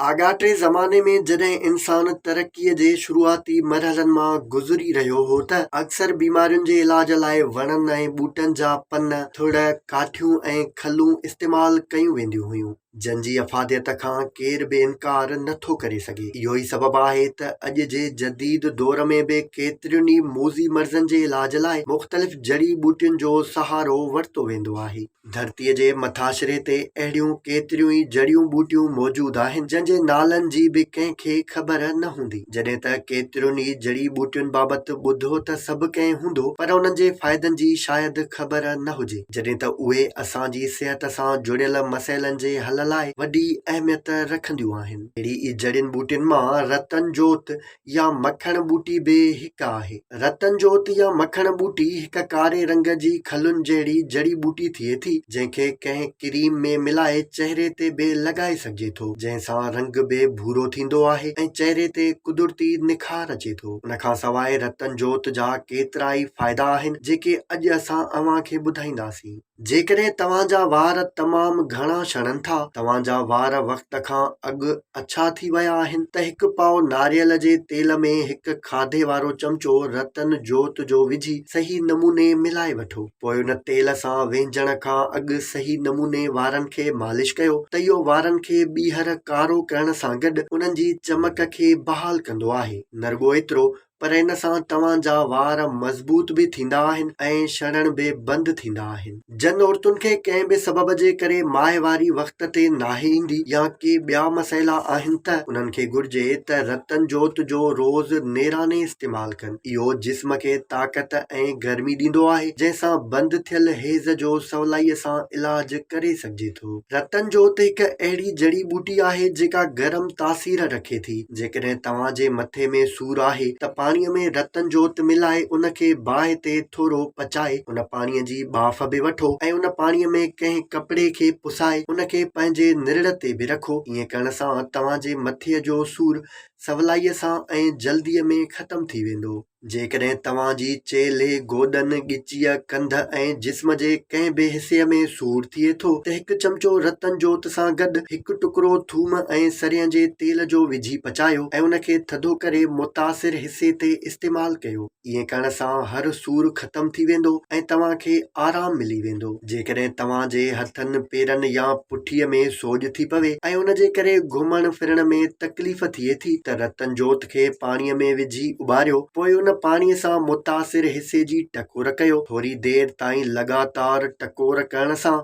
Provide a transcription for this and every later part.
آڳاٽي زماني ۾ جڏهن انسان ترقيء جي شروعاتي مرحلن مان گذري رهيو هو ته اڪثر بيمارين جي علاج لاء وڻن ۽ ٻوٽن جا پن، ٿڙ، ڪاٺيون ۽ کلون استعمال ڪيون وينديون هيون، جن جي افاديت کان ڪير به انڪار نه ٿو ڪري سگهي. اهو ئي سبب آهي ته اڄ جي جديد دور ۾ به ڪيترين ئي موذي مرضن جي علاج لاء مختلف جڙي ٻوٽين جو سهارو ورتو ويندو آهي. ڌرتيء جي مٿاڇري تي اهڙيون ڪيتريون ئي جڙيون ٻوٽيون موجود آهن، جن جي نالن جي به ڪنهن کي خبر نه هوندي. جڏهن ته ڪيترين ئي جڙي ٻوٽين بابت ٻڌو ته سڀ ڪنهن هوندو، پر انهن جي فائدن جي شايد خبر نه هجي، جڏهن ته اهي اسان جي صحت سان جڙيل مسئلن جي حل لاء وڏي اهميت رکنديون آهن. اهڙي ئي جڙين ٻوٽين مان رتن جوت، يا مکڻ ٻوٽي به هڪ آهي. رتن جوت يا مکڻ ٻوٽي هڪ ڪاري رنگ جي کلن جهڙي جڙي ٻوٽي ٿئي ٿي، جنهن کي ڪنهن ڪريم ۾ ملائي چهري تي به لڳائي سگهجي ٿو، جنهن سان رنگ به ڀورو ٿيندو آهي ۽ چهري تي قدرتي نکار اچي ٿو. ان کان سواء رتن جوت جا ڪيترائي فائدا آهن، جيڪي اڄ اسان اوهان کي ٻڌائينداسين. جيڪڏهن توهان جا وار تمام گهڻا شڙن ٿا، توهان جا وار وقت کان اڳ اڇا ٿي ويا آهن، ته هڪ پاء ناريل جي تيل ۾ هڪ کاڌي وارو چمچو رتن جوت جو وجهي صحيح نموني ملائي وٺو. پوء ان تيل سان وينجهڻ کان اڳ صحيح نموني وارن کي مالش ڪيو ته اهو وارن کي ٻيهر ڪارو ڪرڻ سان گڏ انهن جي چمڪ کي بحال ڪندو آهي، نه رڳو ايترو پر ان سان توهان جا وار مضبوط به ٿيندا آهن ۽ شڙڻ به بند ٿيندا آهن. جن عورتن کي ڪنهن به سبب جي ڪري ماهواري وقت تي ناهي ايندي يا ڪي ٻيا مسئلا آهن ته انهن کي گهرجي ته رتن جوت جو روز نيراني استعمال ڪن. اهو جسم کي طاقت ۽ گرمي ڏيندو آهي جنهن سان بند ٿيل حيض جو سولائيء سان علاج ڪري سگهجي ٿو. سمجهي ٿو. رتن جوت هڪ اهڙي جڙي ٻوٽي آهي جيڪا گرم تاثير رکي ٿي. جيڪڏهن توهان جي مٿي ۾ سور آهي ته پاڻي ۾ رتن جوت ملائي ان کي باهه تي ٿورو پچائي ان پاڻي جي ٻاڦ به وٺو ۽ ان پاڻي ۾ ڪنهن ڪپڙي کي پسائي ان کي پنهنجي نرڙ تي به رکو ائين ڪرڻ سان توهان جي مٿي جو سور سولائي سان ۽ جلدي ۾ ختم ٿي ويندو. جيڪڏهن توهان جي چيلهه، گوڏن، ڳچيء، ڪنڌ ۽ جسم جي ڪنهن به حصي ۾ سور ٿئي ٿو ته هڪ چمچو رتن جوت سان گڏ هڪ ٽڪرو ٿوم ۽ سرهين جي تيل جو وجهي پچايو ۽ ان کي ٿڌو ڪري متاثر حصي تي استعمال ڪيو. ائين ڪرڻ سان هر سور ختم ٿي ويندو ۽ توهان کي آرام ملي ويندو. جيڪڏهن توهان جي هٿن، پيرن يا پٺيء ۾ سوڄ ٿي پوي ۽ ان جي ڪري گهمڻ ڦرڻ ۾ تڪليف ٿئي ٿي ته رتن جوت کي پاڻيء ۾ وجهي اٻاريو، پوء ان پاڻيء سان متاثر حصي جي ٽڪور ڪيو. ٿوري دير تائين لڳاتار ٽڪور ڪرڻ سان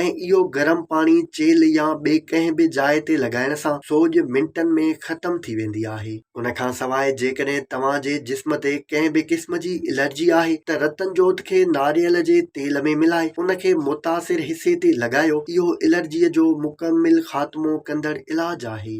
۽ اهو گرم پاڻي چيلهه يا ٻي ڪنهن به جاء تي لڳائڻ سان سوڄ منٽن ۾ ختم ٿي ويندي آهي. ان کان سواء جيڪڏهن توهان جي جسم تي ڪنهن به قسم جي الرجي آهي ته رتن جوت کي ناريل جي تيل ۾ ملائي ان کي متاثر حصي تي لڳايو، اهو الرجي جو مڪمل خاتمو ڪندڙ علاج آهي.